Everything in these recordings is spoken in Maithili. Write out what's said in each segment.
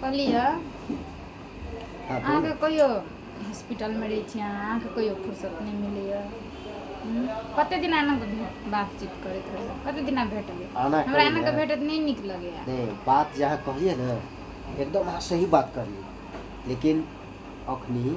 कहलियै हँ कहू ने अहाँके कहियौ हॉस्पिटलमे रहै छी अहाँ अहाँके कहियो फुरर्सत नहि मिलैए कते दिना एना कऽ भेट बातचीत करैत रहै कते दिना भेट आना हमरा करी एना ने के भेटत नहि नीक लगैया नहि बात जे अहाँ कहलियै ने एकदम अहाँ सही बात कहलियै लेकिन एखनि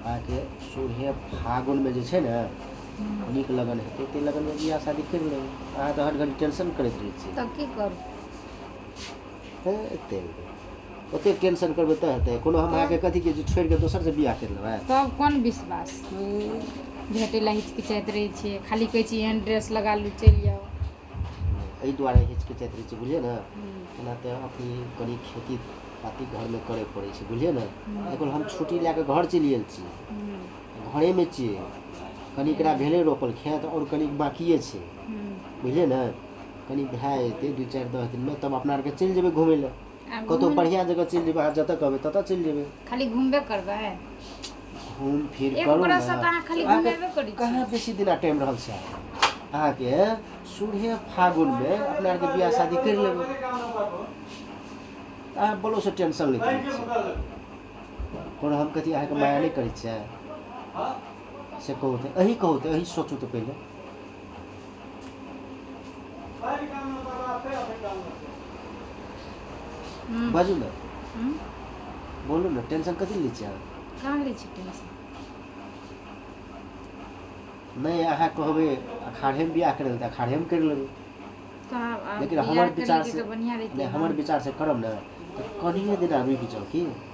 अहाँके सोरहे फागुनमे जे छै ने नीक लगन हेतै ताहि लगनमे बियाह शादी करि लेबै अहाँ तऽ हर घड़ी टेंशन करैत रहै छी तब की करू हँ एते ओतेक टेंशन करबै तऽ हेतै कोनो हम अहाँके कथी कहै छी छोड़ि कऽ दोसरसँ बियाह करि लेबै तब कोन विश्वास भेटै लए हिचकिचाइत रहै छियै खाली कहै छियै एहन ड्रेस लगा लू चलि जाउ एहि दुआरे हिचकिचाइत रहै छै बुझलियै ने एना तऽ अथी कनि खेती पाती घरमे करय पड़ै छै बुझलियै ने एखन हम छुट्टी लए कऽ घर चलि गेल छी घरेमे छियै कनि एकरा भेलै रोपल खेत आओर कनि बाँकिए छै बुझलियै ने कनि भए जेतै दू चारि दस दिनमे तब अपना आरके चलि जेबै घूमय लए आ कतहु घूमू बढ़िआँ जगह चलि जेबै अहाँ जतऽ कहबै ततऽ चलि जेबै खाली घुमबे करबै घूम फिर एक करू ने बरससँ तऽ अहाँ खाली अहाँके घुमेबे करै छी कहाँ बेसी दिना टाइम रहल छै अहाँके सुरहे फागुनमे अपना आरके बियाह शादी करि लेबै अहाँ बोलोसँ टेंशन नहि करै छियै कोनो हम कथी अहाँके माया नहि करै छियै से कहू तऽ अही कहू तऽ अही सोचू तऽ पहिले हम्म, बाजू ने हम्म, बोलू ने टेंशन कथी लै छियै अहाँ? कहाँ लै छी टेंशन नहि अहाँ कहबै अखाढ़ेमे बियाह करै लए तऽ अखाढ़ेमे करि लेबै कहाँ आब लेकिन बियाह हमर करेके विचार से तऽ बढ़िआँ रहितै नहि ने। हमर विचार से करब ने तऽ कनिए दिना रुकि जाउ की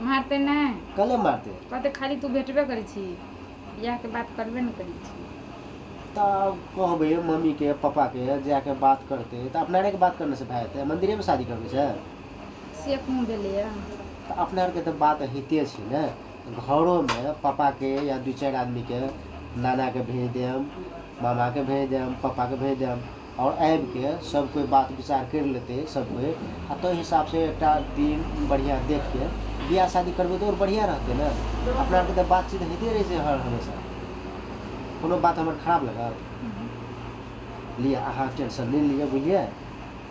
मारतै नहि कले मारतै कहतै खाली तू भेटबे करै छी बियाहके बात करबे नहि करै छी तऽ कहबै मम्मीके पापाके जाके बात करतै तऽ अपना आरके बात करनेसँ भए जेतै मन्दिरेमे शादी करबै से से कोन भेलैए तऽ अपना आरके तऽ बात होइते छै ने घरोमे पापाके या दू चारि आदमीके नानाके भेज देब मामाके भेज देब पापाके भेज देब आओर आबिके सब कोइ बात विचार करि लेतै सब कोइ आ ताहि हिसाब से एकटा दिन बढ़िऑं देखके विवाह शादी करबै तऽ आओर बढ़िऑं रहतै ने अपना आरके तऽ बातचीत होइते रहै छै हर हमेशा कोनो बात हमर खराब लागत लिअ अहाँ टेंशन नहि लिअ बुझलियै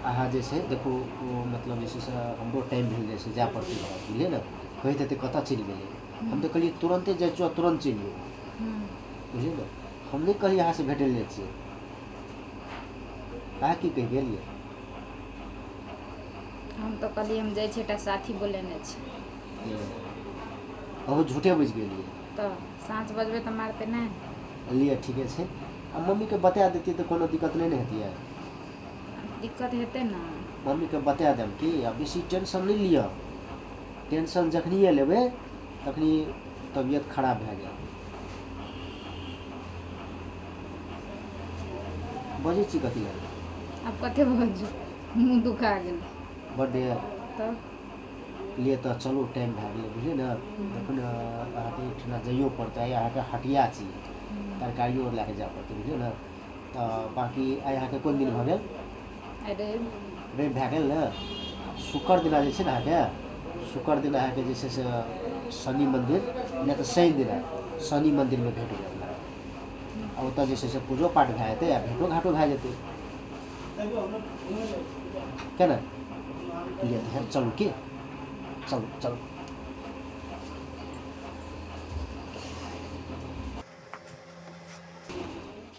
अहाँ जे छै देखू ओ मतलब जे छै से हमरो टाइम भेल जाइ छै जाय पड़तै घर बुझलियै ने कहैत हेतै कतऽ चलि गेलै हम तऽ कहलियै तुरन्ते जाइ छियौ आ तुरन्त चलि अयबौ बुझलियै ने हम नहि कहलियै अहाँ से भेटै लए जाइ छियै अहाँ की कहि गेलियै हम तऽ कहलियै हम जाइ छियै एकटा साथी बोलेने छै अहू झूठे बुझि गेलियै तऽ साँच बजबै तऽ मारतै नहि लिअ ठीके छै आ मम्मीके बता देतियै तऽ कोनो दिक्कत नहि ने हेतियै दिक्कत हेतै ने मम्मीके बता देब कि आ बेसी टेंशन नहि लिअ टेंशन जखनिए लेबै तखनी तबियत खराब भए जायत बजै छी कथी लए आब कते बाजू मुँह दुखा गेल बर्थडे यऽ तब लिए तऽ चलू टाइम भए गेलै बुझलियै ने देखू ने अहाँके एहिठिना जाइयो पड़तै आइ अहाँके हटिया छी तरकारियो लए कऽ जाय पड़तै बुझलियै ने तऽ बाँकी आइ अहाँके कोन दिन भऽ गेल आइ रवि रवि भए गेल ने शुक्र दिना जे छै ने अहाँके शुक्र दिन अहाँके जे छै से शनि मन्दिर नहि तऽ शनि दिना शनि मन्दिरमे भेट भेल आ ओतऽ जे छै से पूजो पाठ भए जेतै आ भेँटो घाँटो भए जेतै किए ने लिअ तहन चलू की चलू चलू